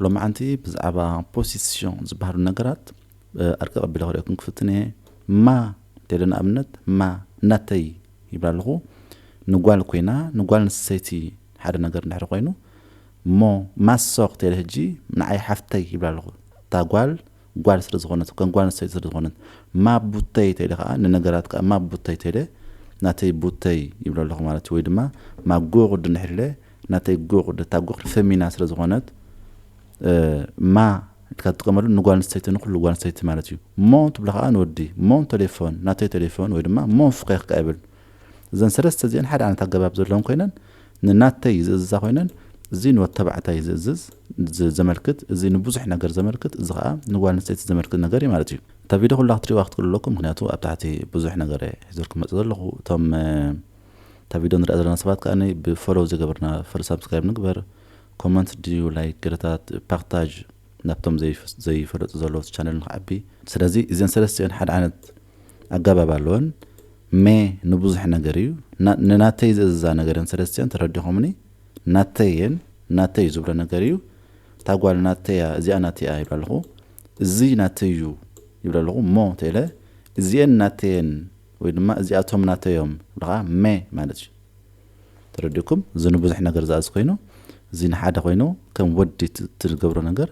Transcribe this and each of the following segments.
ሎምዓንቲ ብዛዕባ ፖሲሲዮን ዝበሃሉ ነገራት ኣርቀቅ ኣቢለ ክርእየኩም ክፍትን እየ። ማ እንተይለ ንኣብነት ማ ናተይ ይብል ኣለኹ ንጓል ኮይና ንጓል ኣንስተይቲ ሓደ ነገር እንድሕሪ ኮይኑ እሞ ማሶ ክተይለ ህጂ ንዓይ ሓፍተይ ይብል ኣለኹ እታ ጓል ጓል ስለ ዝኾነት ከም ጓል ኣንስተይቲ ስለ ዝኾነት ማብ ቡተይ ተለ ከኣ ንነገራት ከኣ ማብ ቡተይ ተለ ናተይ ቡተይ ይብሎ ኣለኹ ማለት እዩ ወይ ድማ ማብ ጎ ቁዲ ንሕለ ናተይ ጎ ቁዲ እታ ጎ ቁዲ ፈሚና ስለ ዝኾነት ማ ኢልካ ትጥቀመሉ ንጓል ኣንስተይቲ ንኩሉ ጓል ኣንስተይቲ ማለት እዩ ሞ ትብሎ ከኣ ንወዲ ሞ ቴሌፎን ናተይ ቴሌፎን ወይ ድማ ሞ ፍኼኽ ከኣ ይብል እዘን ሰለስተ እዚአን ሓደ ዓይነት ኣገባብ ዘለወን ኮይነን ንናተይ ዝእዝዛ ኮይነን እዚ ንወድ ተባዕታይ ዝእዝዝ ዘመልክት እዚ ንቡዙሕ ነገር ዘመልክት እዚ ከኣ ንጓል ኣንስተይቲ ዘመልክት ነገር እዩ ማለት እዩ እታ ቪድዮ ኩላ ክትሪእዋ ክትክእሉ ኣለኩም ምክንያቱ ኣብ ታሕቲ ብዙሕ ነገር እየ ሒዘልኩም መጽእ ዘለኹ እቶም እታ ቪድዮ ንሪኣ ዘለና ሰባት ከኣ ብፈሎው ዝገበርና ፈሎ ሳብስክራይብ ንግበር ኮመንት ድዩ ላይክ ገለታት ፓክታጅ ናብቶም ዘይፈለጡ ዘለዉ ቻነል ንክዓቢ ስለዚ እዘን ሰለስቲኦን ሓደ ዓይነት ኣገባብ ኣለወን ሜ ንብዙሕ ነገር እዩ ንናተይ ዝእዝዛ ነገርን ሰለስቲኦን ተረዲኹምኒ ናተይ እየን ናተይ እዩ ዝብሎ ነገር እዩ እታ ጓል ናተይ እያ እዚኣ ናተይ እያ ይብላ ኣለኹ እዚ ናተይ እዩ ይብላ ኣለኹ እሞ ተለ እዚኤን ናተየን ወይ ድማ እዚኣቶም ናተዮም ብለኻ መ ማለት እዩ ተረዲእኩም እዚ ንብዙሕ ነገር ዝኣዝ ኮይኑ እዚ ንሓደ ኮይኑ ከም ወዲ ትገብሮ ነገር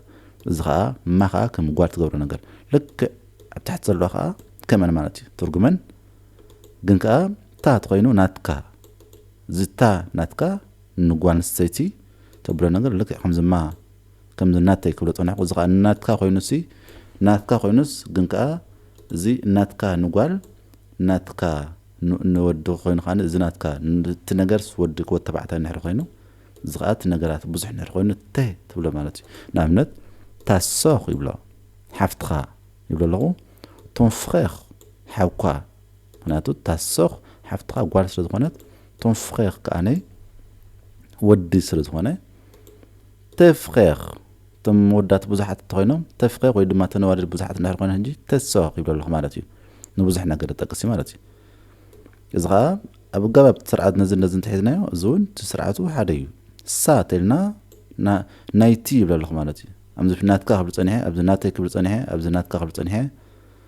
እዚ ከዓ ማ ከዓ ከም ጓል ትገብሮ ነገር ልክዕ ኣብ ታሕቲ ዘለዋ ከዓ ከመን ማለት እዩ ትርጉመን ግን ከዓ ታት ኮይኑ ናትካ ዝታ ናትካ ንጓል ኣንስተይቲ ተብሎ ነገር ልክዕ ከምዚ ማ ከምዚ ናተይ ክብሎ ጸኒሕኩ እዚ ከኣ ናትካ ኮይኑሲ ናትካ ኮይኑስ ግን ከኣ እዚ ናትካ ንጓል ናትካ ንወዲ ኮይኑ ከኣ እዚ ናትካ እቲ ነገርስ ወዲ ክወ ተባዕታይ እንድሕር ኮይኑ እዚ ከኣ እቲ ነገራት ብዙሕ እንድሕር ኮይኑ ተ ትብሎ ማለት እዩ ንኣብነት ታሶኽ ይብሎ ሓፍትኻ ይብሎ ኣለኹ ቶን ፍሬኽ ሓውካ ምክንያቱ እታ ሶክ ሓፍትካ ጓል ስለ ዝኮነት ቶን ፍሬር ከኣ ወዲ ስለ ዝኮነ ተ ፍሬር እቶም መወዳት ብዙሓት እንተኮይኖም ተ ፍሬር ወይ ድማ ተነዋልድ ብዙሓት እንድሕር ኮይነ ሕጂ ተ ሶክ ይብሎ ኣለኩ ማለት እዩ ንብዙሕ ነገር ጠቅስ እዩ ማለት እዩ እዚ ከዓ ኣብ ኣገባብ ስርዓት ነዚ ነዚ እንተሒዝናዮ እዚ እውን እቲ ስርዓቱ ሓደ እዩ እሳ ተልና ናይቲ ይብለ ኣለኹ ማለት እዩ ኣብዚ ናትካ ክብል ፀኒሐ ኣብዚ ናተይ ክብል ፀኒሐ ኣብዚ ናትካ ክብል ፀኒሐ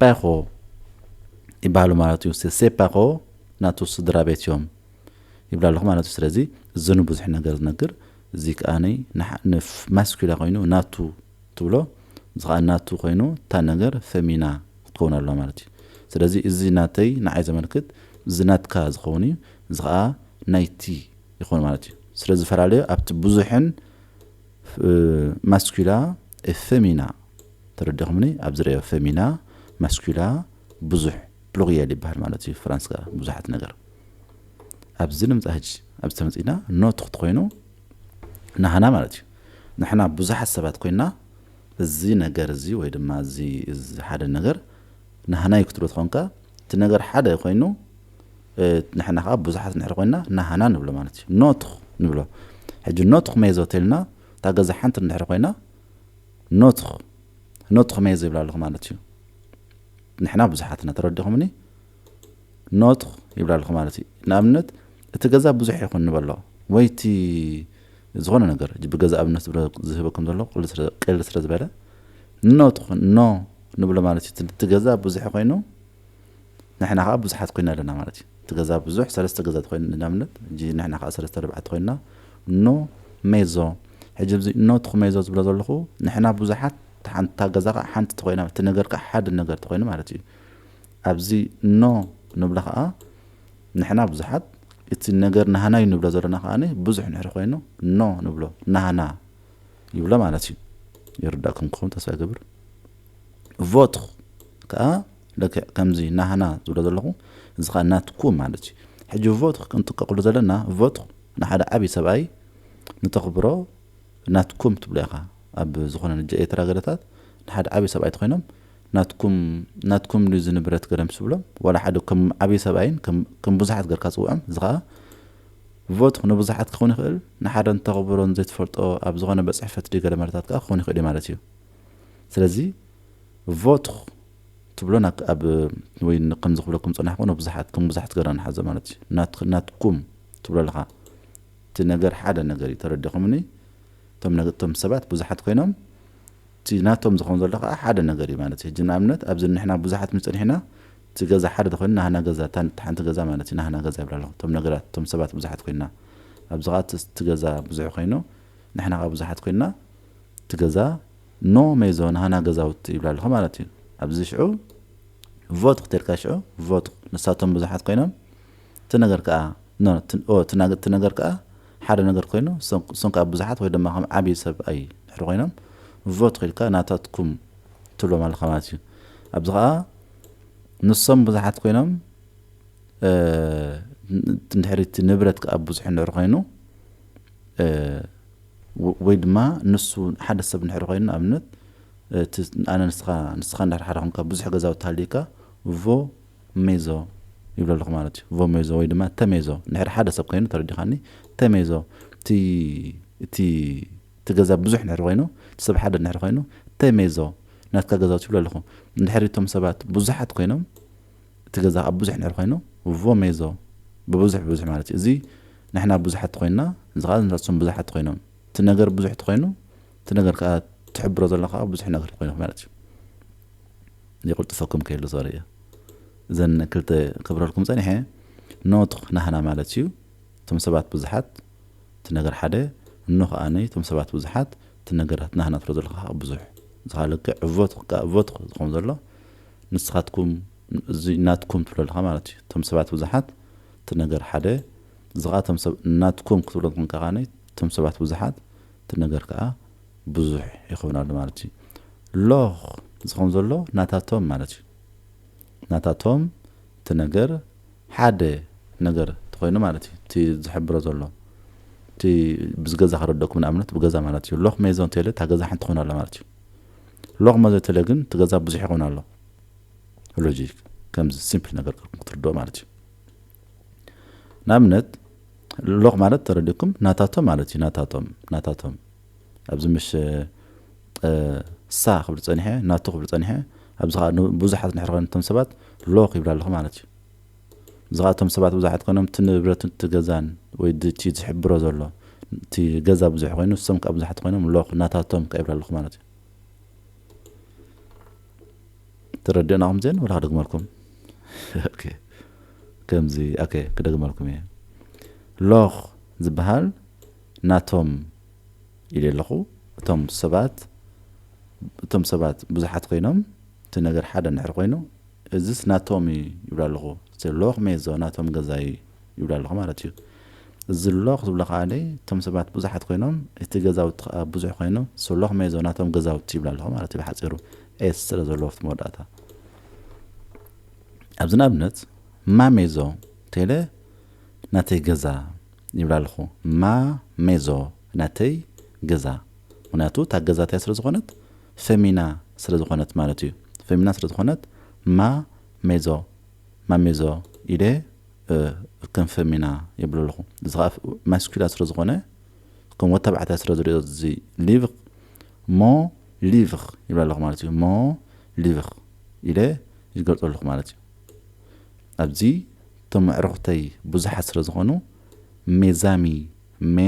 ፐሮ ይበሃሉ ማለት እዩ ሴ ፐሮ ናቱ ስድራ ቤት እዮም ይብሉ ኣለኹ ማለት እዩ ስለዚ እዚ ንብዙሕ ነገር ዝነግር እዚ ከኣ ንማስኩላ ኮይኑ ናቱ ትብሎ እዚ ከኣ ናቱ ኮይኑ እታ ነገር ፈሚና ክትከውን ኣለዋ ማለት እዩ ስለዚ እዚ ናተይ ንዓይ ዘመልክት እዚ ናትካ ዝኸውን እዩ እዚ ከኣ ናይቲ ይኸውን ማለት እዩ ስለዝፈላለዩ ኣብቲ ብዙሕን ማስኲላ እ ፈሚና ተረዲኹምኒ ኣብዚ ረዮ ፈሚና ማስኲላ ብዙሕ ፕሉሪያል ይበሃል ማለት እዩ ፍራንስካ ብዙሓት ነገር ኣብዚ ንምፃ ሕጂ ኣብዚ ተመፂና ኖ ትኽቲ ኮይኑ ናህና ማለት እዩ ንሕና ብዙሓት ሰባት ኮይና እዚ ነገር እዚ ወይ ድማ እዚ ሓደ ነገር ናህና ይክትሎ ትኾንካ እቲ ነገር ሓደ ኮይኑ ንሕና ከኣ ብዙሓት እንድሕር ኮይንና ናህና ንብሎ ማለት እዩ ኖትኽ ንብሎ ሕጂ ኖትኽ ሜዞ ተልና እታ ገዛ ሓንቲ እንድሕር ኮይና ኖትኽ ኖትኽ ሜዞ ይብላ ኣለኹ ማለት እዩ ንሕና ብዙሓት ኢና ተረዲኹምኒ ኖትኽ ይብላ ኣለኹ ማለት እዩ ንኣብነት እቲ ገዛ ብዙሕ ይኹን ንበሎ ወይ እቲ ዝኾነ ነገር ብገዛ ኣብነት ዝህበኩም ዘሎ ቅል ስለ ዝበለ ኖ ትኹን ኖ ንብሎ ማለት እዩ እቲ ገዛ ብዙሕ ኮይኑ ንሕና ከኣ ብዙሓት ኮይና ኣለና ማለት እዩ እቲ ገዛ ብዙሕ ሰለስተ ገዛ ተኮይኑ ንኣብነት ሕጂ ንሕና ከኣ ሰለስተ ኣርባዕተ ተኮይና ን ሜዞ ሕጂ ኣብዚ ን ትኩ ሜዞ ዝብሎ ዘለኩ ንሕና ብዙሓት እታ ገዛ ከኣ ሓንቲ ተኮይና እቲ ነገር ከኣ ሓደ ነገር ተኮይኑ ማለት እዩ ኣብዚ ን ንብሎ ከኣ ንሕና ብዙሓት እቲ ነገር ናህና እዩ ንብሎ ዘለና ከኣ ብዙሕ ንሕሪ ኮይኑ ን ንብሎ ናህና ይብሎ ማለት እዩ ይርዳእኩም ክኸውን ተስፋ ይገብር ቮትኹ ከኣ ልክዕ ከምዚ ናህና ዝብሎ ዘለኹ እዚ ከኣ ናትኩ ማለት እዩ ሕጂ ቮትኽ ክንጥቀቅሉ ዘለና ቮትኽ ንሓደ ዓቢ ሰብኣይ ንተኽብሮ ናትኩም ትብሎ ኢኻ ኣብ ዝኾነ ንጀ ኤርትራ ገለታት ንሓደ ዓቢ ሰብኣይ ተኾይኖም ናትኩም ናትኩም ድዩ እዚ ንብረት ገለም ስብሎም ዋላ ሓደ ከም ዓቢ ሰብኣይን ከም ብዙሓት ገርካ ጽውዖም እዚ ከኣ ቮትኽ ንብዙሓት ክኸውን ይኽእል ንሓደ ንተኽብሮን ዘይትፈልጦ ኣብ ዝኾነ በጽሕፈት ድዩ ገለ ማለታት ከኣ ክኸውን ይኽእል እዩ ማለት እዩ ስለዚ ቮትኽ ትብሎ ናክ ኣብ ወይ ከምዚ ክብለኩም ዝጸናሕኩ ን ብዙሓት ከም ብዙሓት ገርና ንሓዞ ማለት እዩ ናትክ ናትኩም ትብሎ ኣለኻ እቲ ነገር ሓደ ነገር እዩ ተረዲኹምኒ እቶም ነገ እቶም ሰባት ብዙሓት ኮይኖም እቲ ናቶም ዝኾን ዘሎ ከኣ ሓደ ነገር እዩ ማለት እዩ ሕጂ ንኣብነት ኣብዚ ንሕና ብዙሓት ምስ ጸኒሕና እቲ ገዛ ሓደ ተኮይኑ ናህና ገዛ እታ እቲ ሓንቲ ገዛ ማለት እዩ ናህና ገዛ ይብላ ኣለኹ እቶም ነገራት እቶም ሰባት ብዙሓት ኮይና ኣብዚ ከኣ እቲ ገዛ ብዙሕ ኮይኑ ንሕና ከኣ ብዙሓት ኮይና እቲ ገዛ ኖ ሜዞን ሃና ገዛውቲ ይብላ ኣለኹ ማለት እዩ ኣብዚ ሽዑ ቮት ክትልካ ሽዑ ቮት ንሳቶም ብዙሓት ኮይኖም እቲ ነገር ከዓ ኖ እቲ ነገር ከዓ ሓደ ነገር ኮይኑ እሶም ከዓ ብዙሓት ወይ ድማ ከም ዓብዪ ሰብ ኣይ ድሕሪ ኮይኖም ቮት ክኢልካ ናታትኩም ትብሎም ኣለካ ማለት እዩ ኣብዚ ከዓ ንሶም ብዙሓት ኮይኖም እንድሕሪ እቲ ንብረት ከዓ ብዙሕ እንድሕሪ ኮይኑ ወይ ድማ ንሱ ሓደ ሰብ እንድሕር ኮይኑ ንኣብነት እቲ ኣነ ንስኻ ንስኻ እንድሕር ሓደ ኮንካ ብዙሕ ገዛውቲ ሃልዩካ ቮ ሜዞ ይብሎ ኣለኹ ማለት እዩ ቮ ሜዞ ወይ ድማ ተ ሜዞ እንድሕር ሓደ ሰብ ኮይኑ ተረዲኻኒ ተ ሜዞ እቲ እቲ እቲ ገዛ ብዙሕ እንድሕር ኮይኑ እቲ ሰብ ሓደ እንድሕር ኮይኑ ተ ሜዞ ናትካ ገዛውቲ ይብሎ ኣለኹ እንድሕር እቶም ሰባት ብዙሓት ኮይኖም እቲ ገዛ ከኣ ብዙሕ እንድሕር ኮይኑ ቮ ሜዞ ብብዙሕ ብብዙሕ ማለት እዩ እዚ ንሕና ብዙሓት ተኮይንና እዚ ከኣ ንሳትሶም ብዙሓት ተኮይኖም እቲ ነገር ብዙሕ ተኮይኑ እቲ ነገር ከኣ ትሕብሮ ዘሎ ከኣ ብዙሕ ነገር ኮይኑ ማለት እዩ የቅልጥፈኩም ከይሉ ሶሪ እየ እዘን ክልተ ክብረልኩም ጸኒሐ ኖትኽ ናህና ማለት እዩ እቶም ሰባት ብዙሓት እቲ ነገር ሓደ እኖ ከኣኒ እቶም ሰባት ብዙሓት እቲ ነገራት ናህና ትሎ ዘለካ ብዙሕ ዝኻ ልክዕ ቮትኽ ከኣ ቮትኽ ዝኸውን ዘሎ ንስኻትኩም እዚ ናትኩም ትብሎ ኣለኻ ማለት እዩ እቶም ሰባት ብዙሓት እቲ ነገር ሓደ እዚ ከኣ እቶም ሰብ ናትኩም ክትብሎ እንኮንካ ከኣ እቶም ሰባት ብዙሓት እቲ ነገር ከኣ ብዙሕ ይኸውን ኣሎ ማለት እዩ ሎኽ እዚ ከም ዘሎ ናታቶም ማለት እዩ ናታቶም እቲ ነገር ሓደ ነገር ተኮይኑ ማለት እዩ እቲ ዝሕብሮ ዘሎ እቲ ብዝገዛ ክረደኩም ንኣብነት ብገዛ ማለት እዩ ሎኽ ሜዞን ቴለ እታ ገዛ ሓንቲ ኮይና ኣላ ማለት እዩ ሎቕመ ዘተለ ግን እቲ ገዛ ብዙሕ ይኸውን ኣሎ ሎጂክ ከምዚ ሲምፕል ነገር ገርኩም ክትርድኦ ማለት እዩ ንኣብነት ሎቕ ማለት ተረዲኩም ናታቶም ማለት እዩ ናታቶም ናታቶም ኣብዚ ምሽ ሳ ክብል ጸኒሐ ናቱ ክብል ጸኒሐ ኣብዚ ከዓ ብዙሓት ንሕርኸን እቶም ሰባት ሎኽ ይብላ ኣለኹ ማለት እዩ ብዝከ እቶም ሰባት ብዙሓት ኮይኖም እቲ ንብረትን እቲ ገዛን ወይ እቲ ዝሕብሮ ዘሎ እቲ ገዛ ብዙሕ ኮይኑ ንሶም ከኣ ብዙሓት ኮይኖም ሎክ ናታቶም ከኣ ይብላ ኣለኩ ማለት እዩ ተረድኡና ከምዚኤን ወላ ክደግመልኩም ኦኬ ከምዚ ኦኬ ክደግመልኩም እየ ሎክ ዝበሃል ናቶም ኢለ ኣለኹ እቶም ሰባት እቶም ሰባት ብዙሓት ኮይኖም እቲ ነገር ሓደ እንድሕር ኮይኑ እዝስ ናቶም እዩ ይብሎ ኣለኹ እቲ ሎኽ ሜዞ ናቶም ገዛ እዩ ይብሎ ኣለኹ ማለት እዩ እዚ ሎኽ ዝብሎ ከኣ እቶም ሰባት ብዙሓት ኮይኖም እቲ ገዛውቲ ከኣ ብዙሕ ኮይኑ ሶ ሎኽ ሜዞ ናቶም ገዛውቲ ይብሎ ኣለኹ ማለት እዩ ብሓጺሩ ኤስ ስለ ዘለዎ ኣብቲ መወዳእታ ኣብዚ ንኣብነት ማ ሜዞ ቴለ ናተይ ገዛ ይብላ ኣለኹ ማ ሜዞ ናተይ ገዛ ምክንያቱ እታ ገዛ እቲያ ስለ ዝኾነት ፈሚና ስለ ዝኾነት ማለት እዩ። ፈሚና ስለ ዝኾነት ማ ሜዞ፣ ማሜዞ፣ ኢለ ከም ፈሚና የብሎ ኣለኹ። እዚ ኸኣ ማስኲላ ስለ ዝኾነ ከም ወድ ተባዕታይ ስለ ዝሪኦ እዚ ሊቭር ሞ ሊቭር ይብላ ኣለኹ ማለት እዩ። ሞ ሊቭር ኢለ ይገልጾ ኣለኹ ማለት እዩ። ኣብዚ እቶም ኣዕሩኽተይ ብዙሓት ስለ ዝኾኑ ሜዛሚ ሜ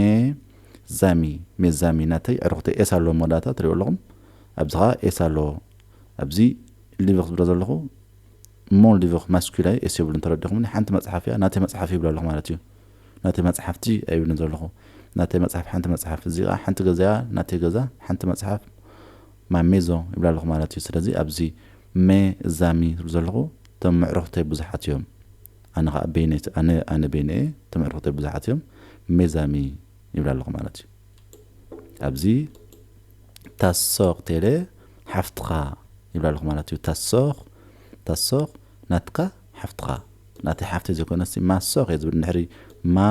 ዛሚ ሜ ዛሚ ናተይ ኣዕሩኽተይ ኤስ ኣሎ መወዳእታ ትሪእዎ ኣለኹም ኣብዚ ከኣ ኤስ ኣሎ ኣብዚ ሊቭኽ ዝብሎ ዘለኹ እሞ ሊቭኽ ማስኲላይ ኤስ የብሉን ተረዲኹምኒ ሓንቲ መጽሓፍ እያ ናተይ መጽሓፍ ይብሎ ኣለኹ ማለት እዩ ናተይ መጽሓፍቲ ኣይብልን ዘለኹ ናተይ መጽሓፍ ሓንቲ መጽሓፍ እዚ ከኣ ሓንቲ ገዛ እያ ናተይ ገዛ ሓንቲ መጽሓፍ ማሜዞ ይብላ ኣለኹ ማለት እዩ ስለዚ ኣብዚ ሜ ዛሚ ዝብሎ ዘለኹ እቶም ምዕሩኽተይ ብዙሓት እዮም ኣነ ኸኣ በይነይ ኣነ ኣነ በይነይ እየ እቶም ኣዕሩኽተይ ብዙሓት እዮም ሜዛሚ ይብላ ኣለኹ ማለት እዩ ኣብዚ ታሶኽ ቴለ ሓፍትኻ ይብላ ኣለኹ ማለት እዩ ታሶኽ ታሶኽ ናትካ ሓፍትኻ ናተይ ሓፍተይ ዘይኮነሲ ማሶኽ እየ ዝብል ንድሕሪ ማ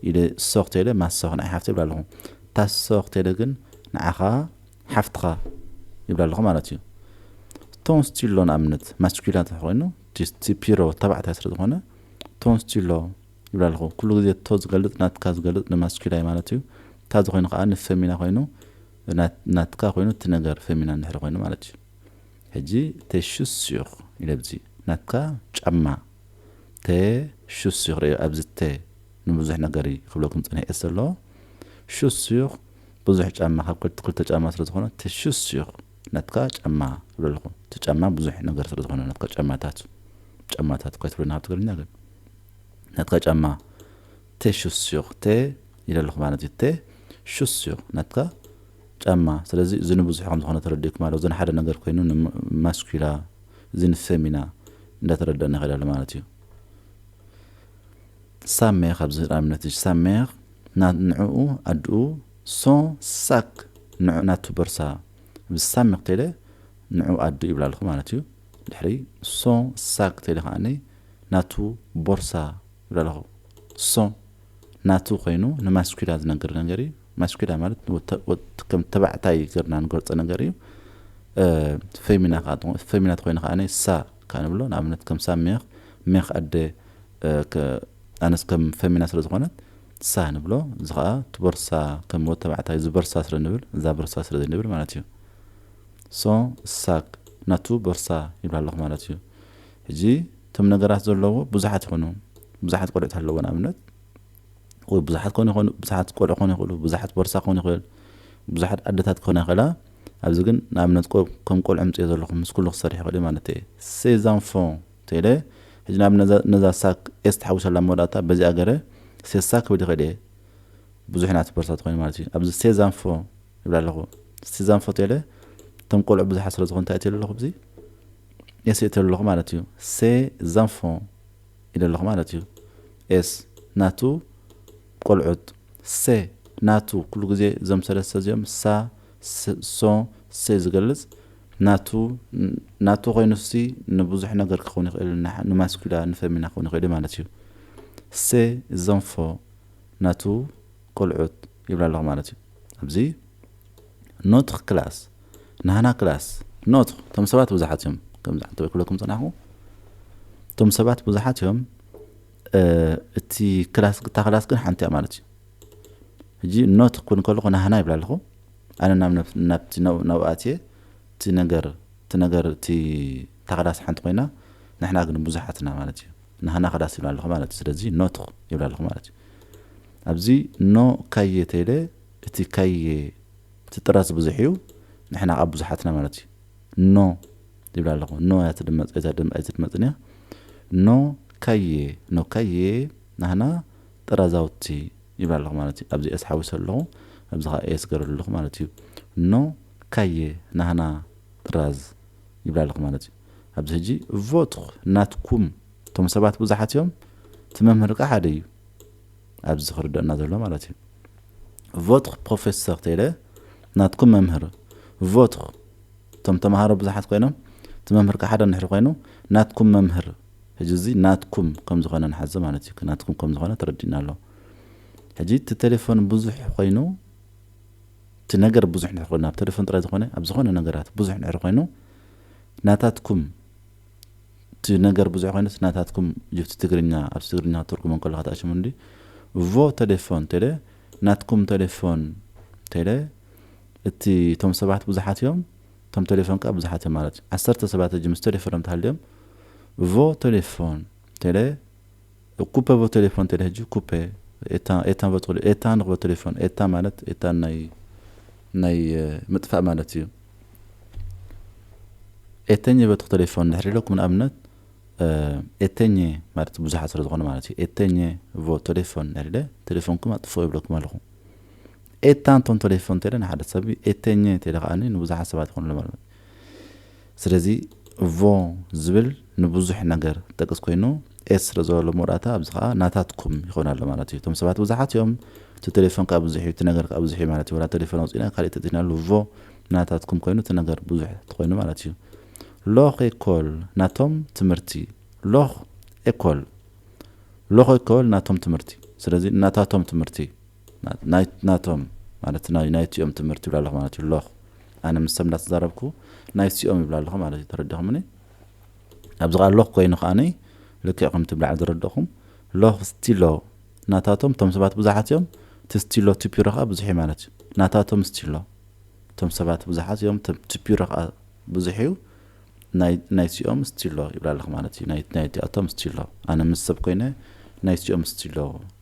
ኢለ ሶኽ ቴለ ማሶኽ ናይ ሓፍተይ ይብላ ኣለኹ ታሶኽ ቴለ ግን ንዓኻ ሓፍትኻ ይብላ ኣለኹ ማለት እዩ። ቶንስቲሎ ንኣብነት ማስኩላ ተኾይኑ ቲፒሮ ተባዕታይ ስለ ዝኾነ ቶንስቲሎ ይብላ ኣለኹ። ኩሉ ግዜ ቶ ዝገልጽ ናትካ ዝገልጽ ንማስኩላ ማለት እዩ። እታ ዝኾይኑ ከዓ ንፈሚና ኮይኑ ናትካ ኮይኑ እቲ ነገር ፈሚና እንድሕር ኮይኑ ማለት እዩ። ሕጂ ቴሹስዩኽ ኢለ ብዚ ናትካ ጫማ ቴሹስዩኽ ርእዮ ኣብዚ ቴ ንብዙሕ ነገር ክብለኩም ጸኒሐ እየ ዘሎ ሹስዩኽ ብዙሕ ጫማ ካብ ክልተ ክልተ ጫማ ስለ ዝኾነ ትሹስ ሺኽ ነትካ ጫማ ትብለልኹ እቲ ጫማ ብዙሕ ነገር ስለ ዝኾነ ነትካ ጫማታት ጫማታት እኳ ትብለና ኣብ ትግርኛ ግን ነትካ ጫማ ቴሹስ ሺኽ ቴ ይለልኹ ማለት እዩ ቴ ሹስ ሺኽ ነትካ ጫማ ስለዚ እዚ ንብዙሕ ከም ዝኾነ ተረዲእኩም ኣሎ እዚ ንሓደ ነገር ኮይኑ ንማስኩላ እዚ ንፌሚና እንዳተረዳእና ይኸዳሉ ማለት እዩ ሳሜኽ ኣብዚ ህዳምነትሽ ሳሜኽ ናት ንዕኡ ኣድኡ ሶን ሳክ ንዑ ናቱ በርሳ ኣብዚ ሳሜኽ ቴለ ንዑ ኣድኡ ይብላ ኣለኹ ማለት እዩ ድሕሪ ሶን ሳክ ቴለ ከኣኒ ናቱ ቦርሳ ይብላ ኣለኹ ሶን ናቱ ኮይኑ ንማስኩላ ዝነገር ነገር እዩ ማስኩላ ማለት ከም ተባዕታይ ገርና ንገልጾ ነገር እዩ ፈሚና ፈሚናት ኮይኑ ከኣኒ ሳ ከኣ ንብሎ ንኣብነት ከም ሳሜኽ ሜኽ ኣደ ኣነስ ከም ፈሚና ስለ ዝኮነት ሳ ንብሎ እዚ ከኣ እቲ ቦርሳ ከም ወድ ተባዕታይ እዚ በርሳ ስለ ንብል እዛ በርሳ ስለ ዘይንብል ማለት እዩ so ሳክ ናቱ ቦርሳ ይብላ ኣለኩ ማለት እዩ ሕጂ እቶም ነገራት ዘለዎ ብዙሓት ይኮኑ ብዙሓት ቆልዑት ኣለዎ ንኣብነት ወይ ብዙሓት ኮኑ ይኮኑ ብዙሓት ቆልዑ ኮኑ ይክእሉ ብዙሓት ቦርሳ ኮኑ ይክእል ብዙሓት ኣደታት ኮና ይክእላ ኣብዚ ግን ንኣብነት ከም ቆልዑ ምጽዮ ዘለኹ ምስ ኩሉ ክሰርሕ ይክእል ማለት እዩ ሴዛንፎ ቴለ ሕጂ ናብ ነዛ ሳክ ኤስ ትሓዊሰላ መወዳእታ በዚኣ ገረ ሴሳ ክብል ይኽእል እየ ብዙሕ ናቲ ቦርሳ ተኾይኑ ማለት እዩ ኣብዚ ሴዛንፎ ይብላ ኣለኹ ሴዛንፎ ቴለ እቶም ቆልዑ ብዙሓት ስለ ዝኾኑ እንታይ እትሉ ኣለኹ ብዚ ኤስ እትሉ ኣለኹ ማለት እዩ ሴዛንፎ ኢለ ኣለኹ ማለት እዩ ኤስ ናቱ ቆልዑት ሴ ናቱ ኩሉ ግዜ እዞም ሰለስተ እዚኦም ሳ so se ዝገልጽ ናቱ ናቱ ኮይኑሲ ንብዙሕ ነገር ክኸውን ይኽእል ን ንማስኩላ ን ፈሚና ክኸውን ይኽእልዩ ማለት እዩ se ዘንፎ ናቱ ቆልዑት ይብላ ኣለኹ ማለት እዩ ኣብዚ ኖትኽ ክላስ ናህና ክላስ ኖትኽ ቶም ሰባት ብዙሓት እዮም ከምዚ ዓንተ ክብለኩም ጽናኹ ቶም ሰባት ብዙሓት እዮም እቲ ክላስ ግታ ክላስ ግን ሓንቲ እያ ማለት እዩ ሕጂ ኖት ክኩን ከለኩ ናህና ይብል ኣለኩ ኣነ ናብ ናብቲ ናብኡ ኣትየ እቲ ነገር እቲ ነገር እቲ እታ ክዳስ ሓንቲ ኮይና ንሕና ግን ብዙሓት እና ማለት እዩ ናህና ክዳስ ይብል ኣለኩ ማለት እዩ ስለዚ ኖት ይብል ኣለኩ ማለት እዩ ኣብዚ ኖ ካየ ተይለ እቲ ካየ እቲ ጥራዝ ብዙሕ እዩ ንሕና ኣብ ብዙሓት ኢና ማለት እዩ ኖ ይብል ኣለኩ ኖ እያ ትድመጽ ኣይትድመጽን እያ ኖ ካየ ኖ ካየ ናህና ጠራዛውቲ ይብል ኣለኹ ማለት እዩ። ኣብዚ ኤስ ሓዊሰ ኣለኹ፣ ኣብዚ ከኣ ኤስ ገይረሉ ኣለኹ ማለት እዩ። ን ካየ፣ ናህና፣ ጥራዝ ይብል ኣለኹ ማለት እዩ። ኣብዚ ሕጂ ቮትር፣ ናትኩም፣ እቶም ሰባት ብዙሓት እዮም፣ እቲ መምህር ከኣ ሓደ እዩ። ኣብዚ ዝክርደኣና ዘሎ ማለት እዩ። ቮትር ፕሮፌሰር ተይለ፣ ናትኩም መምህር፣ ቮትር፣ እቶም ተማሃሮ ብዙሓት ኮይኖም፣ እቲ መምህር ከኣ ሓደ እንድሕሪ ኮይኑ፣ ናትኩም መምህር፣ ሕጂ እዚ ናትኩም ከምዝኾነ ንሓዞ ማለት እዩ ናትኩም ከምዝኾነ ተረዲኡና ኣሎ ሕጂ እቲ ቴሌፎን ብዙሕ ኾይኑ እቲ ነገር ብዙሕ ድሕሪ ኮይኑ ኣብ ቴሌፎን ጥራይ ዝኾነ ኣብ ዝኾነ ነገራት ብዙሕ ድሕሪ ኮይኑ ናታትኩም እቲ ነገር ብዙሕ ኮይኑ እቲ ናታትኩም ጅብቲ ትግርኛ ኣብዚ ትግርኛ ክትርጉሞ ከለካ ተኣሽሙ እንዲ እቮ ቴሌፎን ቴሌ ናትኩም ቴሌፎን ቴሌ እቲ እቶም ሰባት ብዙሓት እዮም እቶም ተሌፎን ከኣ ብዙሓት እዮም ማለት እዩ። ዓሰርተ ሰባት ሕጂ ምስ ተሌፎኖም እንተሃልዮም ቮ ተሌፎን ቴለ እኩፐ ቮ ተሌፎን ቴለ ሕጂ ኩፐ ኤታ ኤታ ቮ ተሌ ኤታ ንክቮ ተሌፎን ኤታ ማለት ኤታ ናይ ናይ ምጥፋእ ማለት እዩ። ኤተኘ ቮ ተሌፎን ድሕሪ ኢለኩም ንኣብነት ኤተኘ ማለት ብዙሓት ስለ ዝኾነ ማለት እዩ። ኤተኘ ቮ ተሌፎን ድሕሪ ኢለ ተሌፎንኩም ኣጥፍኡ ይብለኩም ኣለኹ። ኤታ እንቶም ተሌፎን እንተለ ንሓደ ሰብ ኤተኘ እንተለ ከኣኒ ንብዙሓት ሰባት ይኾንሎም ኣሎ ማለት እዩ። ስለዚ ቮ ዝብል ንብዙሕ ነገር ጠቅስ ኮይኑ ኤስ ስለ ዘሎ ኣብ መወዳእታ ኣብዚ ከኣ ናታትኩም ይኾን ኣሎ ማለት እዩ። እቶም ሰባት ብዙሓት እዮም እቲ ተሌፎን ከኣ ብዙሕ እዩ እቲ ነገር ከኣ ብዙሕ እዩ ማለት እዩ። ወላ ተሌፎን ኣውጺእና ካሊእ ተቲናሉ ቮ ናታትኩም ኮይኑ እቲ ነገር ብዙሕ ተኾይኑ ማለት እዩ። ሎኽ ኤኮል ናቶም ትምህርቲ ሎኽ ኤኮል ሎኽ ኤኮል ናቶም ትምህርቲ ስለዚ ናታቶም ትምህርቲ ናይት ናቶም ማለት ናይ ናይቲኦም ትምህርቲ ይብላ ኣለኹ ማለት እዩ ሎኽ ኣነ ምሰም እንዳተዛረብኩ ናይቲኦም ይብላ ኣለኹ ማለት እዩ ተረዲኹምኒ ኣብዚ ኸዓ ሎኽ ኮይኑ ከዓኒ ልክዕ ከምቲ ብላዕሊ ዝረድእኹም ሎኽ ስቲሎ ናታቶም እቶም ሰባት ብዙሓት እዮም እቲ ስቲሎ ቱፒሮ ከዓ ብዙሕ እዩ ማለት እዩ ናታቶም ስቲሎ እቶም ሰባት ብዙሓት እዮም ቱፒሮ ከዓ ብዙሕ እዩ ናይቲኦም ስቲሎ ይብላ ኣለኹ ማለት እዩ ናይቲኣቶም ስቲሎ ኣነ ምስ ሰብ ኮይነ ናይቲኦም ስቲሎ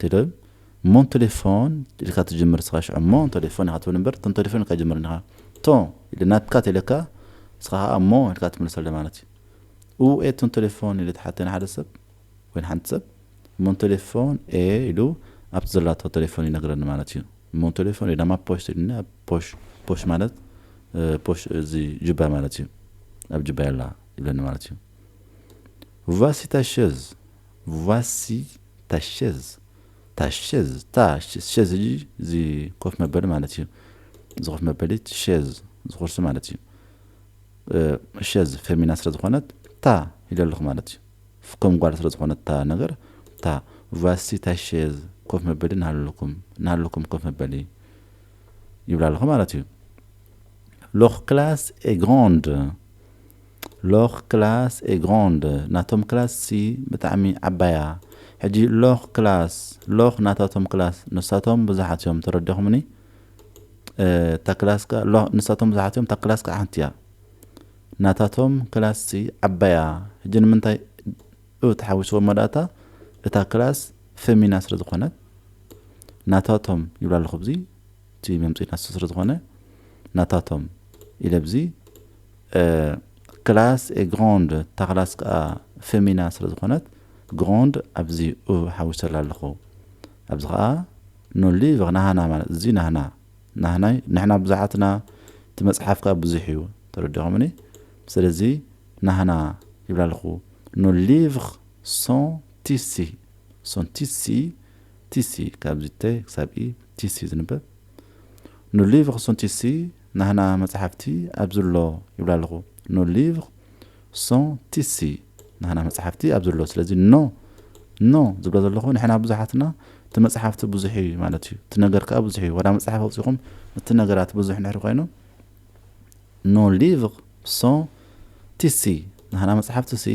ትብል እሞ ን ተሌፎን ኢልካ ትጅምር እስኻ ሽዑ እሞ ን ተሌፎን ኢኻ ትብል እምበር ን ተሌፎን ኢልካ ኣይትጅምርን ኢኻ ቶ ኢለ ናትካ ተኢለካ እስኻ ኸኣ እሞ ኢልካ ትምልሰለይ ማለት እዩ እውኤ ቶ ን ተሌፎን ኢለ ተሓቴ ንሓደ ሰብ ወይ ንሓንቲ ሰብ እሞ ን ተሌፎን ኤ ኢሉ ኣብቲ ዘላቶ ተሌፎን ይነግረኒ ማለት እዩ እሞ ን ተሌፎን ኤ ዳማ ፖሽት ኢሉኒ ኣብ ፖሽ ፖሽ ማለት ፖሽ እዚ ጁባ ማለት እዩ ኣብ ጁባይ ኣላ ይብለኒ ማለት እዩ ቫሲታ ሸዝ ቫሲ ታሸዝ ታሸዝ ታ ሸዝ እዪ እዚ ኮፍ መበሊ ማለት እዩ እዚ ኮፍ መበሊ ሸዝ እዚ ኩርሲ ማለት እዩ ሸዝ ፌሚና ስለ ዝኾነት ታ ኢለ ኣለኹ ማለት እዩ ከም ጓል ስለ ዝኾነት ታ ነገር ታ ቫሲ ታሸዝ ኮፍ መበሊ ናሃለኩም ናሃለኩም ኮፍ መበሊ ይብላ ኣለኹ ማለት እዩ ሎኽ ክላስ ኤ ግራንድ Leur classe est grande ናቶም ክላስ ሲ ብጣዕሚ ዓባያ ሕጂ Leur classe Leur ናታቶም ክላስ ንሳቶም ብዙሓት እዮም ተረዲኹምኒ እታ ክላስ ከኣ Leur ንሳቶም ብዙሓት እዮም እታ ክላስ ከኣ ሓንቲ እያ ናታቶም ክላስ ሲ ዓባያ ሕጂ ንምንታይ እ ተሓዊስዎ መዳእታ እታ ክላስ ፈሚና ስለ ዝኾነት ናታቶም ይብላ ኣለኹ ብዚ እቲ መምፅኢ ናቱ ስለዝኾነ ናታቶም ኢለ ብዚ ክላስ ኤ ግራንድ እታ ክላስ ከዓ ፌሚና ስለዝኾነት ግራንድ ኣብዚ ኡ ሓዊሰላ ኣለኹ ኣብዚ ከዓ ኖ ሊቭር ናህና ማለት እዚ ናህና ናህናይ ንሕና ብዙሓትና እቲ መፅሓፍ ከዓ ብዙሕ እዩ ተረዲኹምኒ ስለዚ ናህና ይብላ ኣለኹ ኖ ሊቭር ሶን ቲሲ ሶን ቲሲ ቲሲ ካብዚ ተ ክሳብ ኢ ቲሲ እዩ ዝንበብ ን ሊቭር ሶን ቲሲ ናህና መጽሓፍቲ ኣብዚ ኣሎ ይብል ኣለኹ ን ሊቭር ሶን ቲሲ ናህና መጽሓፍቲ ኣብዚ ኣሎ ስለዚ ን ን ዝብሎ ዘለኹ ንሕና ብዙሓትና እቲ መጽሓፍቲ ብዙሕ እዩ ማለት እዩ እቲ ነገር ከኣ ብዙሕ እዩ ወላ መጽሓፍ ኣውጺኹም እቲ ነገራት ብዙሕ ንሕሪ ኮይኑ ን ሊቭር ሶን ቲሲ ናህና መጽሓፍቲ ሲ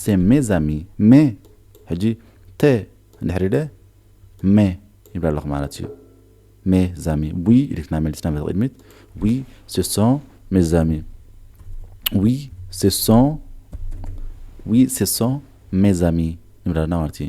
ሴ ሜ ዛሚ ሜ ሕጂ ተ እንድሕር ኢለ ሜ ይብላ ኣለኹ ማለት እዩ ሜ ዛሚ ዊ ኢልክና መሊስና በቲ ቅድሚት ዊ ሴ ሶ ሜ ዛሚ ዊ ሴ ሶ ዊ ሴ ሶ ሜ ዛሚ ንብላ ኣለና ማለት እዩ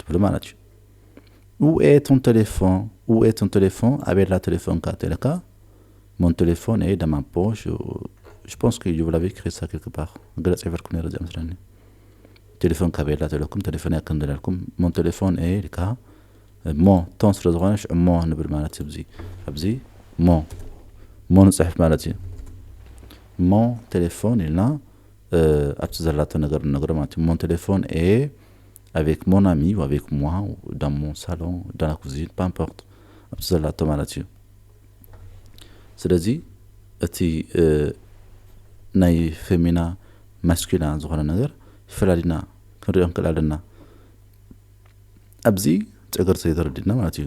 ትብል ማለት እዩ ኡኤ ቶን ቴሌፎን ኡኤ ቶን ቴሌፎን ኣበላ ቴሌፎንካ ተለካ ሞን ቴሌፎን ኤ ደማ ፖሽ ሽፖንስኪ ዩቭላቪ ክሳ ክልክባኽ ገለ ፅሒፈልኩም ነረ እዚኣ መስለኒ ቴሌፎን ካበላ ተለኩም ቴሌፎን እያ ክንደለልኩም ሞን ቴሌፎን ኤ ልካ እሞ ቶን ስለ ዝኾነ ሽዑ እሞ ንብል ማለት እዩ ኣብዚ ኣብዚ እሞ እሞ ንፅሕፍ ማለት እዩ እሞ ቴሌፎን ኢልና ኣብቲ ዘላቶ ነገር ንነግሮ ማለት እዩ። ሞን ቴሌፎን ኤ ኣቬክ ሞን ኣሚ ው ኣቬክ ሞዋ ዳን ሞን ሳሎን ዳን ላ ኩዚን ፓምፖርት ኣብቲ ዘላቶ ማለት እዩ። ስለዚ እቲ ናይ ፌሚና ማስኪና ዝኾነ ነገር ፈላሊና ክንሪኦ ንክእል ኣለና። ኣብዚ ጨገር ዘይተረዲና ማለት እዩ።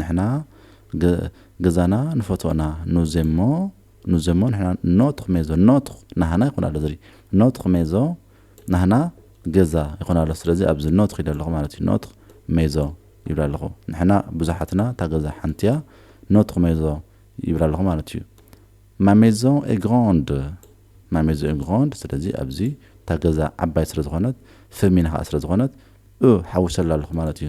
ንሕና ገዛና ንፈትዎ እና ኑዜሞ ኑዜሞ ንሕና ኖት ኽሜዞ ኖት ናህና ይኾን ኣሎ ዝሪ ኖት ኽሜዞ ናህና ገዛ ይኾን ኣሎ ስለዚ ኣብዚ ኖት ኺደ ኣለኹ ማለት እዩ ኖት ሜዞ ይብላ ኣለኹ ንሕና ብዙሓትና እታ ገዛ ሓንቲ እያ ኖት ኽሜዞ ይብላ ኣለኹ ማለት እዩ Ma maison est grande Ma maison est grande ስለዚ ኣብዚ እታ ገዛ ዓባይ ስለ ዝኾነት ፈሚና ኸኣ ስለ ዝኾነት እ ሓዊሰላ ኣለኹ ማለት እዩ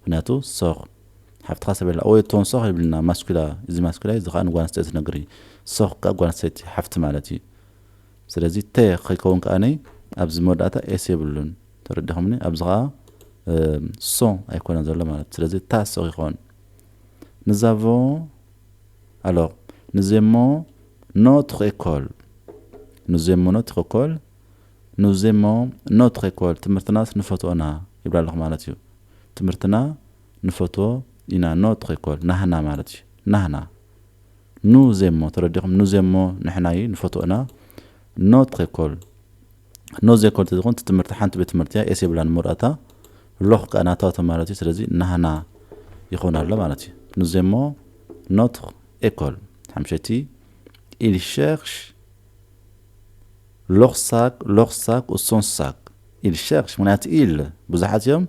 ምክንያቱ ሶኽ ሓፍትኻ ሰበይላ ወይ እቶን ሶኽ ይብልና ማስኲላ እዚ ማስኲላይ እዚ ከኣ ንጓል ኣንስተይቲ ዝነግር እዩ ሶኽ ከኣ ጓል ኣንስተይቲ ሓፍቲ ማለት እዩ ስለዚ ተ ከይከውን ከኣ ኣብዚ መወዳእታ ኤስ የብሉን ተረዲኹምኒ ኣብዚ ከኣ ሶ ኣይኮነን ዘሎ ማለት ስለዚ ታ ሶኽ ይኸውን ንዛቮ ኣሎር ንዜሞ ኖት ሬኮል ንዜሞ ኖት ሬኮል ኑዝ እሞ ኖትረ ኤኮል ትምህርትናስ ንፈትዎ እና ይብል ኣለኹ ማለት እዩ ትምህርትና ንፈትዎ ኢና ኖትረ ኤኮል ናህና ማለት እዩ ናህና ኑዝ እሞ ተረዲኹም ኑዝ እሞ ንሕና እዩ ንፈትዎ እና ኖትረ ኤኮል ኖዝ ኤኮል ተዝኾን እቲ ትምህርቲ ሓንቲ ቤት ትምህርቲ እያ ኤስ የብላን መወዳእታ ሎኽ ከኣ ናታቶም ማለት እዩ ስለዚ ናህና ይኾን ኣሎ ማለት እዩ ኑዝ እሞ ኖትረ ኤኮል ሓምሸቲ ኢል ሸርሽ ሎኽ ሳክ ሎኽ ሳክ ኡሶን ሳክ ኢል ሸርሽ ምክንያቱ ኢል ብዙሓት እዮም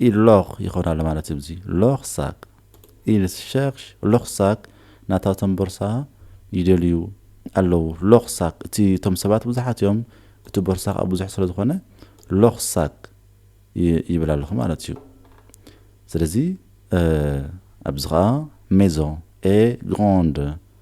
ኢል ሎኽ ይኸውን ኣሎ ማለት እዩ ብዚ ሎኽ ሳክ ኢል ሸርሽ ሎኽ ሳክ ናታቶም ቦርሳ ይደልዩ ኣለዉ ሎኽ ሳክ እቲ እቶም ሰባት ብዙሓት እዮም እቲ ቦርሳ ከዓ ብዙሕ ስለ ዝኾነ ሎኽ ሳክ ይብል ኣለኹ ማለት እዩ ስለዚ ኣብዚ ከዓ ሜዞ ኤ ግራንድ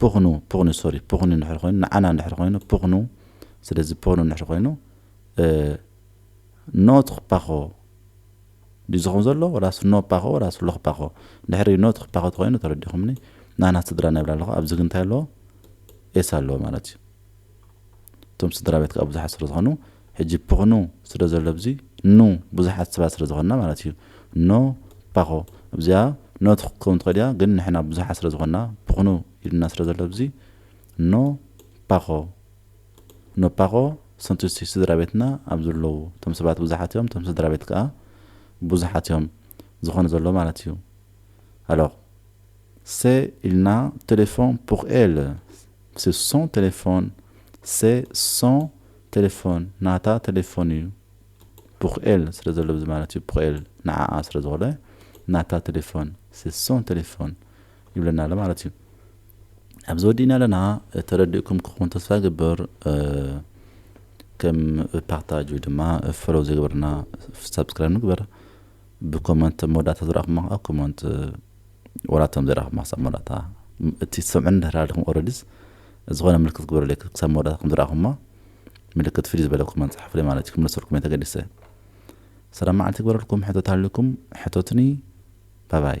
ፕኽኑ ፕኽኑ ሶሪ ፕኽኑ እንድሕር ኮይኑ ንዓና እንድሕር ኮይኑ ፕኽኑ ስለዚ ፕኽኑ እንድሕር ኮይኑ ኖት ፓኾ ድዩ ዝኸውን ዘሎ ወላስ ኖ ፓኾ ወላስ ሎኽ ፓኾ ድሕሪ ኖት ፓኾ ተኮይኑ ተረዲኹምኒ ናና ስድራ ናይብላ ኣለኹ ኣብዚ ግን እንታይ ኣለዎ ኤስ ኣለዎ ማለት እዩ እቶም ስድራ ቤት ከዓ ብዙሓት ስለ ዝኾኑ ሕጂ ፕክኑ ስለ ዘሎ ብዚ ን ብዙሓት ሰባት ስለ ዝኾንና ማለት እዩ ን ፓኾ እብዚኣ ን ክትከውን ትኽእል እያ ግን ንሕና ብዙሓት ስለ ዝኾንና ፕክኑ ኢሉና ስለ ዘሎ ብዚ ን ፓኾ ን ፓኾ ስንት ስድራ ቤትና ኣብ ዝለዉ እቶም ሰባት ብዙሓት እዮም እቶም ስድራ ቤት ከኣ ብዙሓት እዮም ዝኾኑ ዘለዉ ማለት እዩ ኣሎር c'est il n'a téléphone pour elle c'est son téléphone c'est son ተሌፎን ናታ ተሌፎን እዩ ፑክኤል ስለ ዘሎ ብዚ ማለት እዩ ፑክኤል ንዓኣ ስለ ዝኾነ ናታ ተሌፎን ሴ ሶን ተሌፎን ይብለና ኣሎ ማለት እዩ ኣብዚ ወዲእና ኣለና ተረዲእኩም ክኸውን ተስፋ ይገብር ከም ፓርታጅ ወይ ድማ ፈሎው ዘይገበርና ሳብስክራይብ ንግበር ብኮመንት መወዳእታ ዝረኣኹማ ከዓ ኮመንት ወላቶም ዘይረኣኹማ ክሳብ መወዳእታ እቲ ሰምዑን ድሕር ኣለኹም ኦረዲስ ዝኾነ ምልክት ክግበረለይ ክሳብ መወዳእታ ከም ዝረኣኹሞ ምልክት ፍልይ ዝበለ ኮመንት ጸሓፉለይ ማለት እዩ ክምለሰልኩም እየ ተገዲሰ ሰላም መዓልቲ ይግበረልኩም ሕቶት ሃልዩኩም ሕቶትኒ ባባይ።